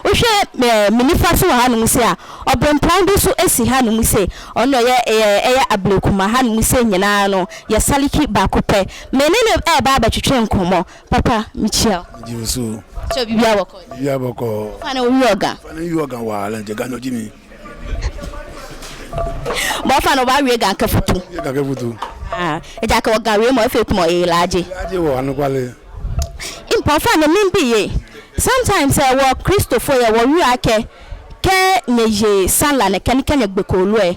wohwɛ ɛɛ me nifa so wɔ hanom se a ɔbempɔn bi so si hanom se ɔno ɛyɛ ɛyɛ ɛyɛ ablekuma hanom se nyinaa no yɛ saliki baako pɛ me ne no ɛɛba abɛtwetwe nkɔmmɔ Papa mekyia wo. Megye wo so. Sɛ biribiara bɔkɔɔ. Biribiara bɔkɔɔ. Fa na owi ɔga. Fa na owi ɔga waa lɛ nkyɛ ga na ɔgye mi. Bɔ fa na ɔba wie ga kafutu. Wie ga kafutu. Ah, ɛgya ka ɔga wie ma ɔfɛ kuma ɔyɛ ilaagye. Ilaagye wɔ anokwale. Mpa ɔfa na mi bi ye. Sometimes ɛ wɔ Kristofo yɛ wɔ wia kɛ kɛ nyɛ ye sanla ne kɛ ne kɛ nyɛ gbɛkɔ oluɛ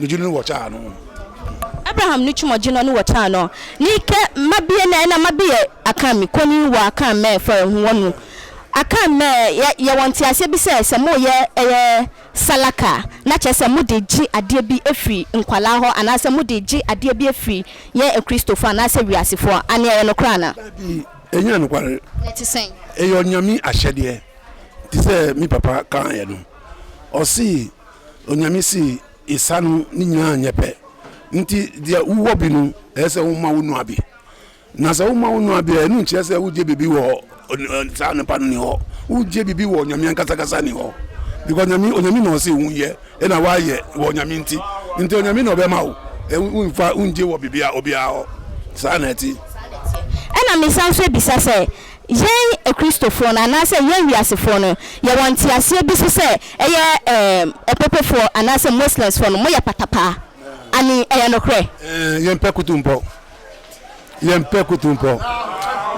no dzi no wɔtaa no. Abraham no twuma dzi no no wɔtaa no. Ni kɛ ma bie nɛ ɛna ma bi yɛ akan mi koni wɔ akan mɛ fɔ ɛhu wɔ nu. Akan mɛ yɛ yɛ wɔ ntiaseɛ bi sɛ sɛ mo yɛ ɛyɛ salaka a na kyɛ sɛ mo de gye adeɛ bi efiri nkwalaa hɔ anaa sɛ mo de gye adeɛ bi efiri yɛn akristofɔ anaa sɛ wiase foɔ ane ɛyɛ nokorɛ anaa? Dabi ɛnyɛ nokware. Na ɛte sɛn? Ɛyɛ ɔnyame ahyɛdeɛ te sɛ me papa kaeɛ no ɔsee. Onyame see esa no ne nyinaa nyɛ pɛ, nti deɛ wowɔ bi no ɛyɛ sɛ woma wo nua bi. Na sɛ woma wo nua bi a, ɛno nkyerɛ sɛ wogye biribi wɔ saa nipa no ni hɔ, wogye biribi wɔ Onyame ankasakasa ni hɔ. Because Onyame, Onyame na ɔse wo yɛ, ɛna wayɛ wɔ Onyame nti, nti Onyame na ɔbɛma wo, wonfa, wongye wɔ biribi a, obiara hɔ. Saa na ɛte. Ɛna mesan nso abisa sɛ, Yɛn Akristofoɔ no anaasɛ yɛn wiasefoɔ no, yɛwɔ nteaseɛ bi so sɛ ɛyɛ Ɔpopofoɔ anaasɛ Muslimsfoɔ no, moyɛ patapaa. Ani, ɛyɛ nokorɛ? Yɛmpɛ kutu mpɔ. Yɛmpɛ kutu mpɔ.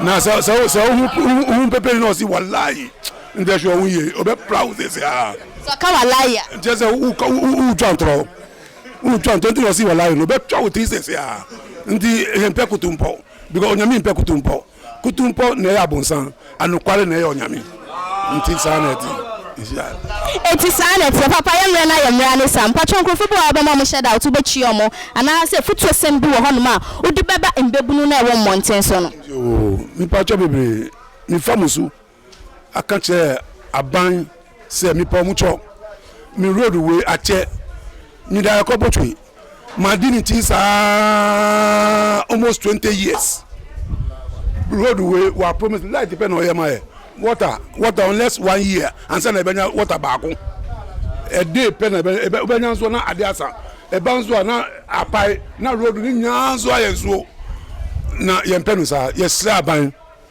Na sɛ, sɛ, sɛ wohu, wohu peperi na ɔse walayi, nkyɛ hwɛ ɔho yie, ɔbɛpra wo sese aa. Sɛ ɔka walayi a. Nkyɛ sɛ wokɔ, wo, wo, wotwa ntorɔ. Wotwa ntorɔ nti na ɔse walayi no, ɔbɛtwa wo tiri sese aa. Nti yɛmpɛ kutu mpɔ. Because Onyame mpɛ kutu mpɔ. Kutumpɔ na ɛyɛ abonsan, anokware na ɛyɛ ɔnyame. Nti saa na ɛte. Enti saa na ɛteɛ. Papa yɛ mmerɛ na yɛ mmerɛ ne saa. Mpakyɛw nkurɔfoɔ bi wɔ hɔ a wobɛma wɔn hyɛ doubt, wobɛkyia wɔn, anaa sɛ afutuosɛm bi wɔ hɔnom a wode bɛba mmabunu no a ɛwɔ mmɔnten so no? Yoo, mpakyɛw bebree. Mefa mo su. aka kyerɛ aban sɛ mepɛ ɔmo kyɔ me road wei akyɛ meda ɛkɔ botwe madi ne ti saa almost twenty years road wei wa promise light pɛ na ɔyɛ ma yɛ water water unless one year ansa na ɛbɛnya water baako ɛde pɛ na ɛbɛnya nso na ade asa ɛba nso a na apae na road ne nyinaa nso ayɛ nsuo na yɛn pɛ no saa yɛsrɛ aban.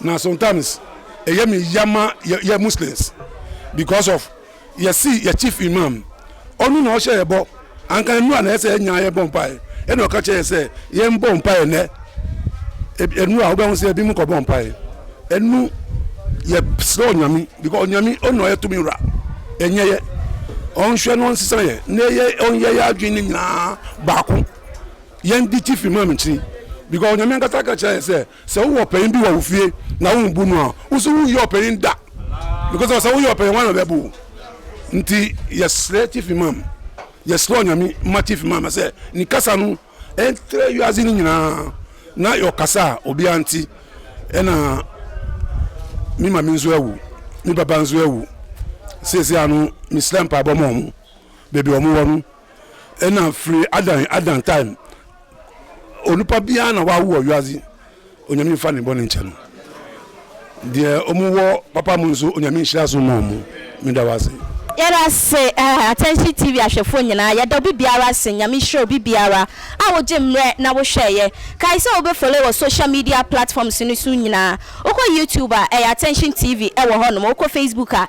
Na sometimes ɛyɛ me ya ma yɛ yɛ Muslims because of yɛsi yɛ chief imam ɔno na ɔhyɛ yɛ bɔ anka nnura na ɛsɛ ɛnya yɛ bɔ mpaeɛ ɛna ɔka kyerɛ yɛ sɛ yɛn mbɔ mpaeɛ nɛ nnura wobɛ ho sɛ ebi mu kɔ bɔ mpaeɛ ɛnu yɛ srɛ onyame because onyame ɔno na ɔyɛ tumi wura ɛnyɛ yɛ ɔnhwɛ na ɔnsesa yɛ na yɛ ɔnyɛ yɛ adwene ne nyinaa baako Yɛn de tifi maa me nkyiri because Onyame ankasa ka kyerɛ yɛn sɛ sɛ wowɔ ɔpanyin bi wɔ wo fie na wombu no a wo nso wonyɛ ɔpanyin da because ɔsɛ woyɛ ɔpanyin wana bɛbu wo nti yɛsrɛ tifi maa me yɛsrɛ Onyame ma tifi maa me sɛ ne kasa no ɛntrɛ wiase no nyinaa na ɔkasa a obiara nti ɛna me ma me nso awu me baba nso awu seesia no mesrɛ mpaebɔ ma ɔmo baabi ɔmo wɔ no Nna firi Adan Adan time onipa biara na wawo wɔ wiase onyame nfa ne bɔne nkyɛ no deɛ ɔmo wɔ papa mu nso onyame nhyira so ma ɔmo meda wase. Yɛda ase eh, Attention TV ahwɛfoɔ nyinaa, yɛda obi biara ase, Nyame nhyira obi biara a wogye mmerɛ na wohwɛeɛ. Kae sɛ wobɛ follow wɔ social media platforms no so nyinaa. Wokɔ YouTube a, ɛyɛ Attention TV wɔ hɔnom, wokɔ Facebook a,